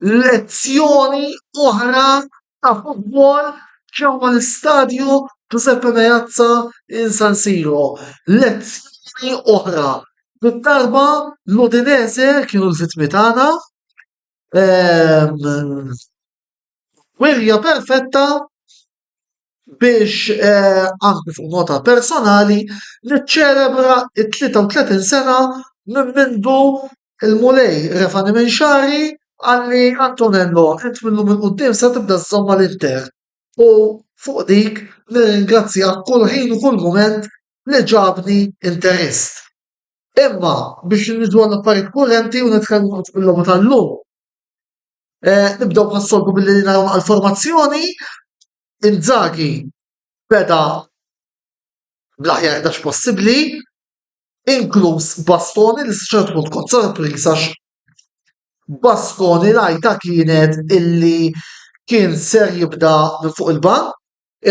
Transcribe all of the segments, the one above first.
Lezzjoni oħra ta' futbol ġewwa l-Istadju Ġużeppe Meazza in San Siro. Lezzjoni oħra. Bid-darba l-Udinese kienu l-vittmi tagħna. Ehm, wirja perfetta biex anki fuq nota personali niċċelebra t-33 sena minn mindu l-Mulej refani minn xagħri qal li Antonello int mil-lum 'il quddiem se tibda żżomm mal-Inter u fuq dik nirringrazzjah kull ħin u kull mument li ġabni Interist. Imma biex niġu għall-affarijiet kurrenti u nitkellmu fuq il-logħba tal-lum. Eh, nibdew bħas-soltu billi naraw għal-formazzjoni. Inzaghi beda bl-aħjar dax possibbli, inkluż Bastoni li s-ċert punt kont sorpriż għax Bastoni rajta kienet illi kien ser jibda minn fuq il-bank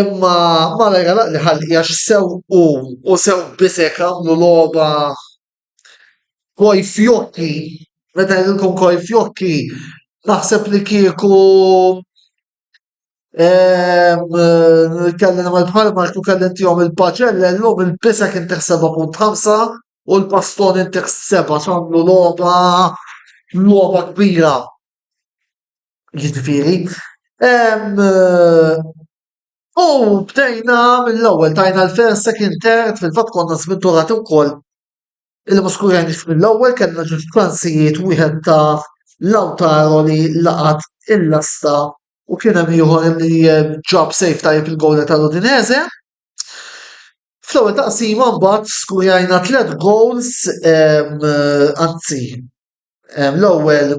imma ma rajra li ħalli għax sew u u sew bisek għamlu loba Koi fjokki, meta jgħidilkom koi fjokki, naħseb li kieku kelli nagħmel bħal Mark u kelli ntihom il-paċella llum il-bisek intih 7.5 u l-paston intih 7 x'għamlu logħba logħba kbira. Jiġifieri, U bdejna mill-ewwel tajna l-first, second, third, fil-fatt konna żminturati wkoll il muskurjani mill-ewwel kellna ġewġ klansijiet wieħed ta' Lautaro li laqat il-lasta u kien hemm ieħor li eh, ġab sejf tajjeb il-gowla tal-Udinese. Fl-ewwel taqsima mbagħad skurjajna tliet goals eh, anzi l-ewwel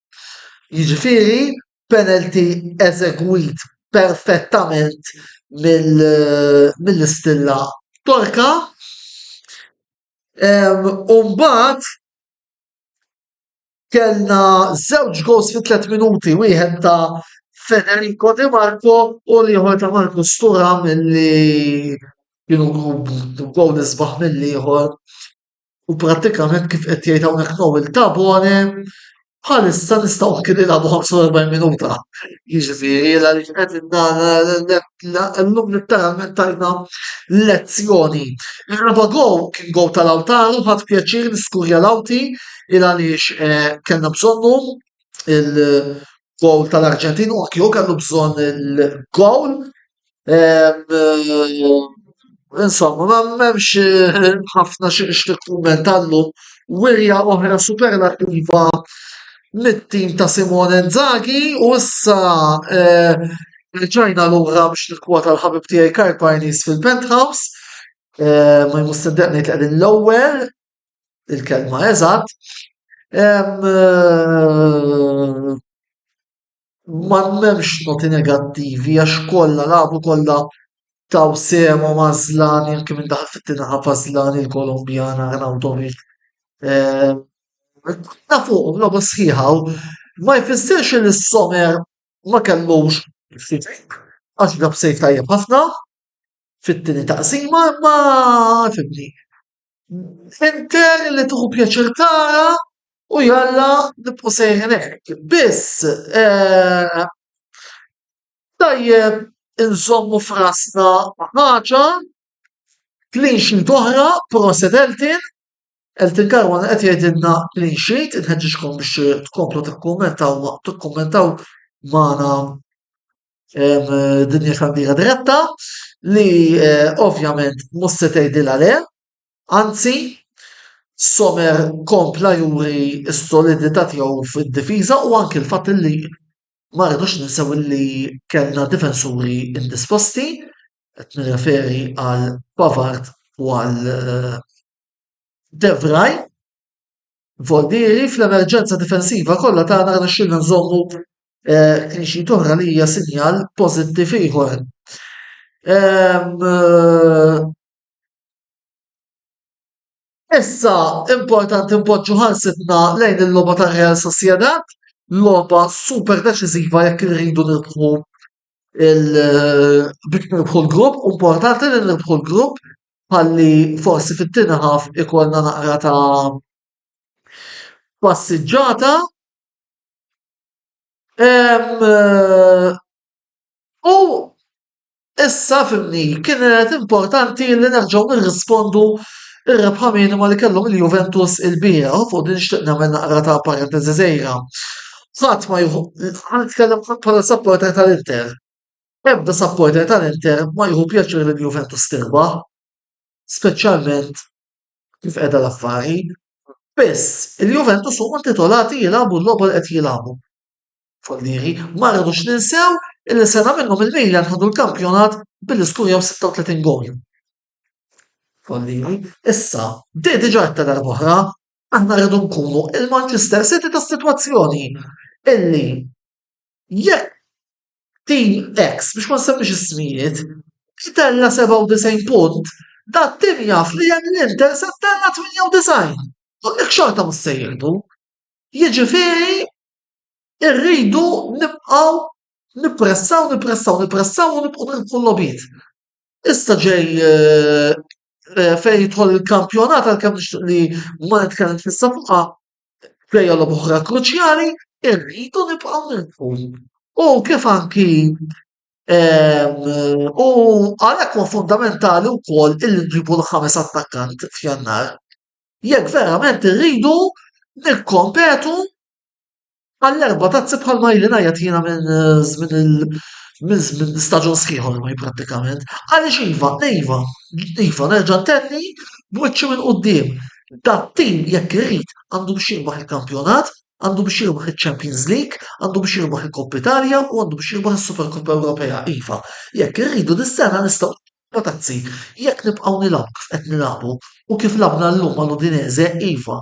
Jiġifieri penalty eżegwit perfettament mill-istilla Torka u mbagħad kellna żewġ gowls fi tliet minuti, wieħed ta' Federico Di Marco u l-ieħor ta' Marcus Thuram li kienu gowl isbaħ mill-ieħor. U prattikament kif qed jgħid hawnhekk Noel Tabone, bħalissa nistgħu anki nilagħbu 45 minuta. Jiġifieri għaliex qed llum litteralment tajna lezzjoni. Ir-raba' gow kien gow tal-Awtaru ħadd pjaċir niskurja l-Awti il għaliex eh, kellna bżonnu il-gowl tal-Arġentin u anki kellu bżonn il-gowl Insomma, ma m'hemmx ħafna xi nixtieq kumment llum. Wirja oħra superlattiva mit-tim ta' Simone Inzaghi u issa rġajna lura biex nikkwota l-ħabib tiegħi Karl Parnis fil-Penthouse. Ma jmur sindaq ngħid qegħdin l-ewwel il-kelma eżatt. ma m'hemmx noti negattivi għax kollha lagħbu kollha taw sehem u Mażlani anke minn daħal fit-tieni ħadd Mażlani l-Kolombjan Arnautovic. Ta' fuqhom logħba sħiħa u ma jfissirx li s-Somer ma kellux għax għab save tajjeb ħafna fit-tieni taqsima imma fimni. Fintell li tieħu pjaċir tara u jalla nibqgħu sejrin hekk. Biss tajjeb inżommu f'rasna ħaġa clean sheet oħra, proset Elton, Elton Caruana qed jgħidilna clean sheet, inħeġġiġkom biex tkomplu tikkummentaw tikkummentaw magħna dinja xandira diretta li eh, ovvjament mhux se tgħidilha le, anzi Somer kompla juri s-solidità tiegħu fid-difiża u anke l-fatt li ma rridux ninsew li kellna difensuri indisposti, qed nirreferi għal Pavard u għal eh, Devraj. Valdieri, Fl-emerġenza difensiva kollha tagħna rnexxielna nżommu clean sheet oħra li hija sinjal pożittiv ieħor. Issa importanti npoġġu ħarsitna lejn il-logħba ta' Real Sociedad, logħba super deċiżiva jekk irridu nirbħu biex nirbħu l-grupp, u importanti li nirbħu l-grupp ħalli forsi fit-tieni ħaf ikollna naqra ta' passiġġata. U issa fimni, kienet importanti li nerġgħu nirrispondu ir-rebħa minima li kellhom il-Juventus il-bieraħ, u fuq din nixtieq nagħmel naqra ta' parenteżi żgħira. ħadd ma jieħu nitkellem bħala supporter tal-Inter. Ebda supporter tal-Inter ma jieħu pjaċir li l-Juventus tirbaħ, speċjalment kif qiegħda l-affari. Biss, il-Juventus huma titolati jilagħbu l-logħba li qed jilagħbu. Follieri, ma rridux ninsew illi sena minnhom il-Milan ħadu l-kampjonat billi skurjaw 36 gol. Follieri, issa, di diġà ta' darba oħra, Aħna rridu nkunu il-Manchester City tas-sitwazzjoni illi jekk tim X biex ma nsemmix ismijiet itella 97 punt, dat tim jaf li hemm l-Inter se tella 98. U dik xorta mhux se jieħdu. Jiġifieri rridu nibqgħu nippressaw, nippressaw, nippressaw u nibqgħu nirpu l-logħbiet. Issa ġej eh, eh, fejn jidħol il-kampjonat għalkemm nixtieq li ma nitkellem fissa fuqha fejja l oħra kruċjali irridu nibqgħu nilqu. U kif anki ehm, u għalhekk huwa fundamentali wkoll illi nġibu l-ħames attakkant f'jannar. Jekk verament irridu nikkompetu Għall-erba' tazzi bħal ma ili ngħajjat jiena minn żmien il minn żmien staġun sħiħ ormai prattikament. Għaliex iva, iva, iva nerġa' ntenni b'wiċċi minn quddiem, dat-tim jekk irid għandu biex jirbaħ il-kampjonat, għandu biex jirbaħ iċ-Champions League, għandu biex jirbaħ il-Coppa Italia u għandu biex jirbaħ is-Supercoppa Ewropea, iva. Jekk irridu dis-sena nistgħu Erba' tazzi, jekk nibqgħu nilgħbu kif qed nilgħbu u kif lagħbna llum mal-Udinese, iva.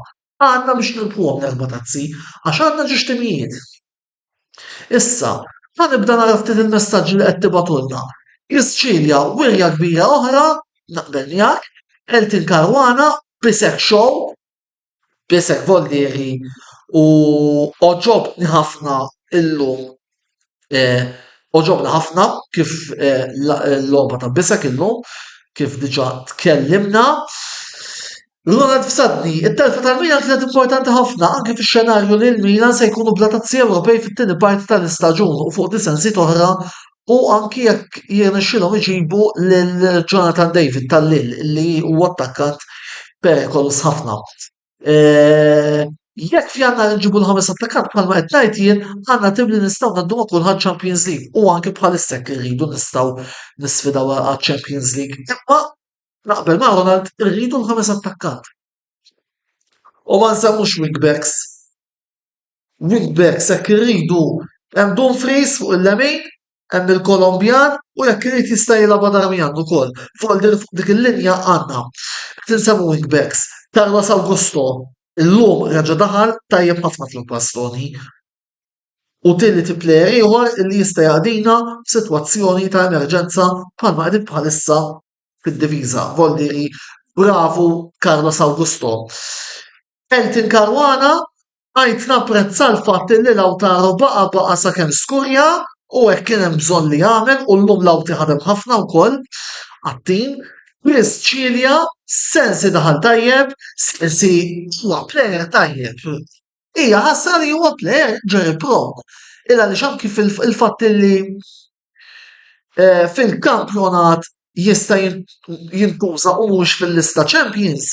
Għadna biex nirbħuhom l-erba' tazzi, għax għandna ġiex timijiet. Issa, ħa nibda nara ftit il-messaġġi li qed tibgħatulna. Priscillia, wirja kbira oħra, naqbel miegħek, Elton Caruana, Bisek Show, Bisek Vollieri u għoġobtni ħafna illum Eh, Oġobna ħafna kif eh, l-logħba ta' bisek illum, kif diġa tkellimna. Ronald f'sadni, it-telfa tal-Milan kienet importanti ħafna anke fix-xenarju li l-Milan se jkunu bla tazzi Ewropej fit-tieni parti tal-istaġun u fuq disensi oħra u anki jekk jirnexxilhom iġibu lil Jonathan David tal-lil li huwa attakkant perikoluż ħafna. Eh, jekk fjannar nġibu l-ħames attakkant bħalma qed ngħid jien, għandna tim li nistgħu ngħaddu ma' kulħadd Champions League u anke bħalissa jekk irridu nistgħu nisfidaw għal Champions League. Imma naqbel ma' Ronald irridu l-ħames attakkant. U ma nsemmux wingbacks. Wingbacks jekk irridu hemm Dumfries fuq il-lemin, hemm il-Kolombjan u jekk irid jista' jilgħabha Darmian ukoll. Fuq dik il-linja għandna qed insemmu wingbacks, Carlos Augusto llum reġa' daħal tajjeb ħafna fl-inkwastroni u tielet plejer ieħor li jista' jaqdina f'sitwazzjoni ta' emerġenza bħalma qegħdin bħalissa fid-difiża, Valdieri, bravu Carlos Augusto. Elton Caruana, Għidt napprezza l-fatt illi Lautaro baqa' baqa' sakemm skurja u hekk kien hemm bżonn li jagħmel u llum Lauti ħadem ħafna wkoll għat-tim. Chris Cilia, Sensi daħal tajjeb, Sensi huwa plejer tajjeb. Hija ħasra li huwa plejer ġej prok. Il-għaliex anki il-fatt illi fil-kampjonat jista' jintuża u mhux fil-lista Champions,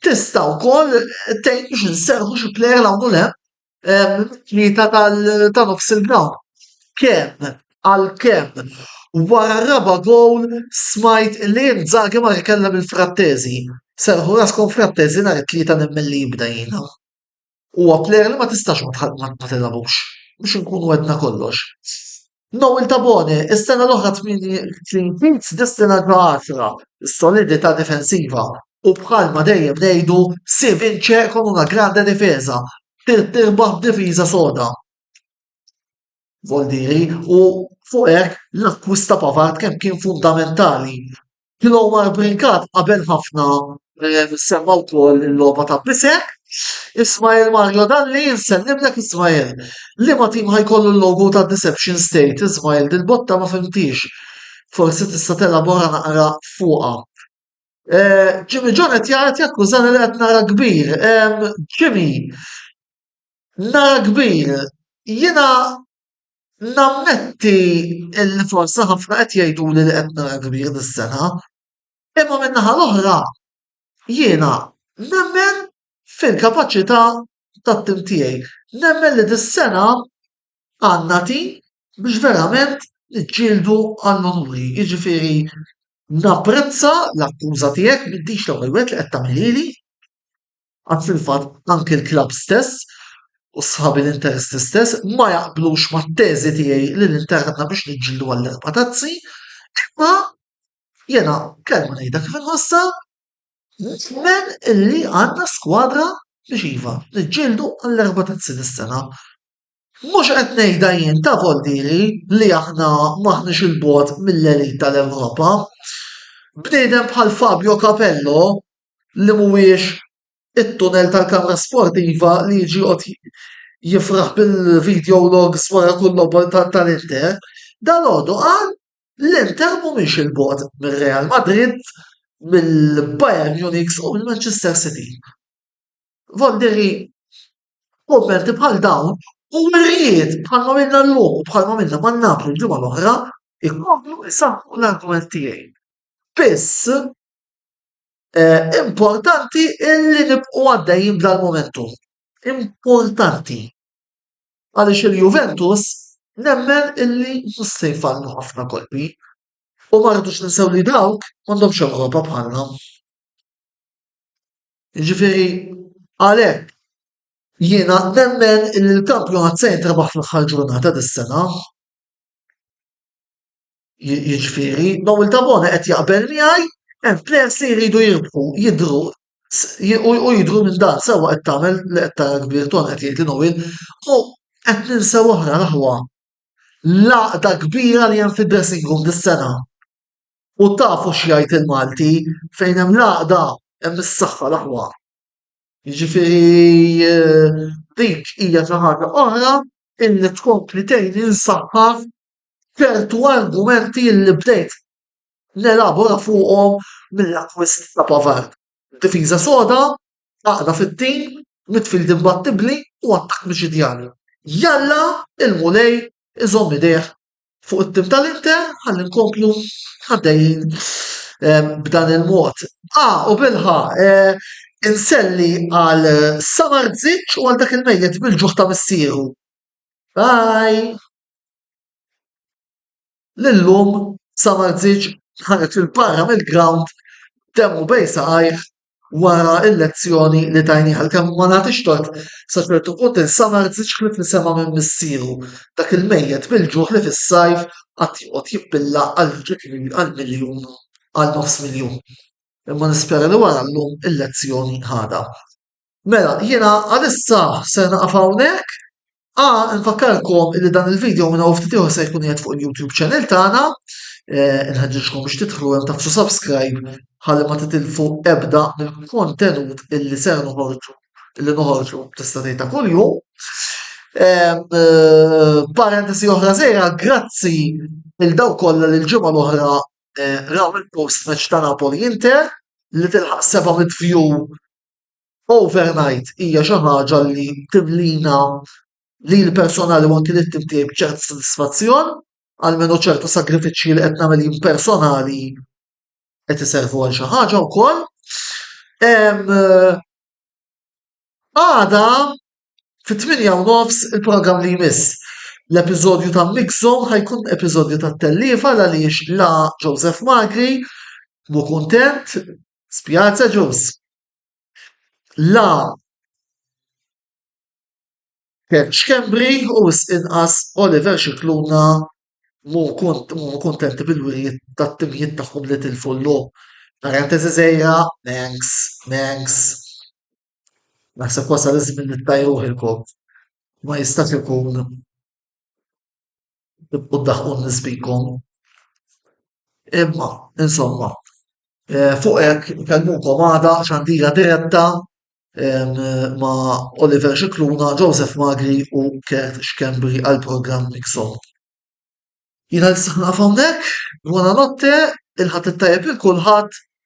tista' wkoll tgħid biex inserħu xi plejer hawn u hemm mit-tlieta ta' nofs il-grawnd. Kemm għalkemm wara r-raba' gowl smajt li Inzaghi mar ikellem il-Frattesi. Serrħu raskom Frattesi nhar it-Tlieta nemmen li jibda jiena. Huwa plejer li ma tistax ma tilgħabux, biex inkunu għedna kollox. Noel Tabone, is-sena l-oħra 38 destina ġo għaxra, is-solidità difensiva u bħalma dejjem ngħidu si vince con una grande difesa, trid tirbaħ b'difiża soda. Voldiri u fuq hekk l-akkwist ta' Pavard kemm kien fundamentali. Kien huwa brinkat qabel ħafna eh, semma wkoll il-logħba ta' Bisek. Ismail Mario Dalli nsellimlek Ismail. Li ma tim ħajkollu l-logo ta' Deception State Ismail dil-botta ma fimtix. Forsi tista' telabora naqra fuqha. Eh, Jimmy John qed jgħid jakkużani li qed nara kbir. Jimmy, Nara kbir, jiena nammetti li forsi ħafna qed jgħiduli li qed nara kbir dis-sena, imma min-naħa l-oħra jiena nemmen fil-kapaċità tat-tim tiegħi. Nemmen li dis-sena għandna tim biex verament niġġieldu għall-unuri. Jiġifieri napprezza l-akkuża tiegħek, m'intix l-ewwel wieħed li qed tagħmilhieli. Għad fil-fatt anki l-klabb stess u sħab l-Interisti stess ma jaqblux mat-teżi tiegħi li l-Inter għandna biex niġġieldu għall-erba' tazzi, imma jiena kelma ngħidha kif inħossha, nemmen illi għandna skwadra biex iva, niġġieldu għall-erba' tazzi dis-sena. Mhux qed ngħidha jien ta' Voldieri li aħna m'aħniex 'il bogħod mill-elite tal-Ewropa. Bniedem bħal Fabio Capello li mhuwiex it-tunnel tal-kamra sportiva li jiġi jqgħod jifraħ bil-video logs wara kull logħba tal-Inter, dalodu qal l-Inter mhumiex 'il bogħod mir-Real Madrid, mill-Bayern Munich u mill-Manchester City. Voldieri f'kummenti bħal dawn u wirjiet bħal ma minna llum u bħal ma minna ma' Napli l-ġimgħa l-oħra jkomplu jsaħħu l-argument tiegħi. Biss importanti illi nibqgħu għaddejjin b'dal-momentum. Importanti. Għaliex il-Juventus nemmen illi mhux se jfallu ħafna kolpi u ma rridux ninsew li dawk m'għandhomx Ewropa bħalna. Jiġifieri għalhekk jiena nemmen li l-kampjonat se jintrabaħ fl-aħħar ġurnata dis-sena. Jiġifieri Noel Tabone qed jaqbel miegħi hemm plejers li jridu jirbħu jidhru u jidhru minn dan sewwa qed tagħmel li qed tara kbir ton qed jgħid li Noel u qed ninsew oħra l-aħwa l-għaqda kbira li hemm fid-dressing room dis-sena. U tafu x'jgħid il-Malti, fejn hemm l-għaqda hemm is-saħħa l-aħwa. Jiġifieri eh, dik hija xi ħaġa oħra illi tkompli tgħin insaħħaħ ċertu argumenti li bdejt nelabora fuqhom mill-akwist ta' Pavard. Difiża soda, għaqda fit-tim, midfield imbattibli u attakk miċidjani. Jalla il-mulej iżomm idejh fuq it-tim tal-Inter ħalli nkomplu għaddejjin eh, b'dan il-mod. Ah, u bilħa, eh, inselli għal Samar Zitch u għal dak il-mejjet bil-ġuħ ta' missieru. Bye! L-lum Samar Zitch ħanet il-barra mill-ground temmu bej saqajh wara l-lezzjoni li tajnih għalkemm ma nagħtix tort sa ċertu punt insamar żiġ ħlief li sema' minn missieru, dak il-mejjet bil-ġuħ li fis-sajf qatt joqgħod jippilla għal ġieli għal miljun, għal nofs miljun. Imma nispera li wara llum il-lezzjoni ħadha. Mela, jiena għalissa ser naqaf hawnhekk A nfakkarkom li dan il-video minn hawn ftit se jkun qiegħed fuq il-YouTube channel tagħna. Eh, nħeġġiġkom biex tidħlu hemm tafsu subscribe ħalli ma titilfu ebda mill-kontenut illi ser noħorġu illi noħorġu tista' tgħidha kuljum. Eh, parentesi oħra żejra, grazzi il daw kollha li l-ġimgħa l-oħra eh, raw il-post match ta' Napoli Inter li tilħaq 700 view overnight hija xi ħaġa li timlina lili personali u anki lit-tim tiegħi b'ċertu sodisfazzjon, almenu ċertu sagrifiċċji li qed nagħmel jien personali qed iservu għal xi ħaġa wkoll. Għada fit-tmienja u nofs il-programm li jmiss. L-episodju ta' Mix Zone ħajkun episodju ta' tellifa għaliex la Joseph Magri mu kuntent, spjazza ġus. la Ken Schembri u wisq inqas Oliver Scicluna ma huma kuntenti bil-wirjiet tat-timijiet tagħhom li tilfu llum. Naħseb wasal iż-żmien li ttajruh il-kop, ma jistax ikun. tibqgħu ddaħħqu n-nies bikom. Imma, insomma, eh, fuq hekk nkellmukom għada xandira diretta ma' Oliver Xikluna, Joseph Magri u Kert Xkembri għal programm Mixon. Jina nistaħna fawnek, buona notte, il-ħat il-tajab il-kulħat,